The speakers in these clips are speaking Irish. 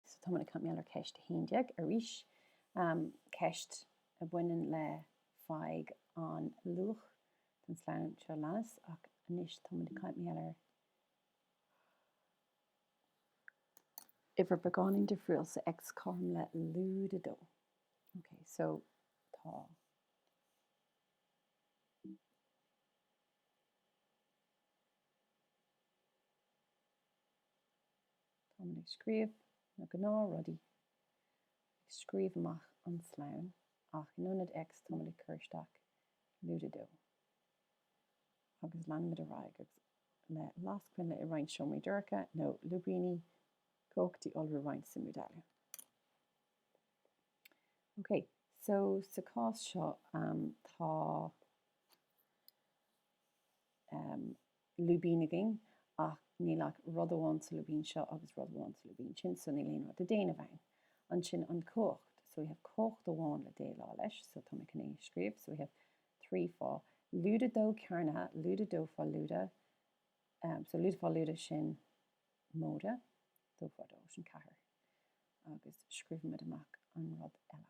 So tá muid ag caint mar gheall ar cheist 11 arís, ceist a bhaineann le faigh an luach don slonn seo leanas, ach anois tá muid ag caint mar gheall ar uimhir beagáinín difriúil, so x cothrom le lúide 2. Ok, so tá Táimid ag scríobh na gnáth rudaí, ag scríobh amach an slonn, ach in ionad X táimid ag cur isteach lúide dó. Agus leanaimid ar aghaidh agus le las coinnle i roinnt seomraí dorcha, nó lúibíní, cumhachtaí, iolrú, roinnt, suimiú, dealú. Ok, so sa cás seo, tá lúibín againn ach níl ach rud amháin sa lúibín seo agus rud amháin sa lúibín sin so níl aon rud le déanamh ann. Ansin an chumhacht. So we have cumhacht amháin le déileáil leis so tá mé chun é a scríobh so we have trí fá lúide dó cearnaithe lúide dó fá lúide um so lúide fá lúide sin móide dó fá dó sin ceathair agus scríobhaimid amach an rud eile.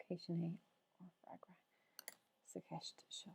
Ok, sin é ár bhfreagra sa cheist seo.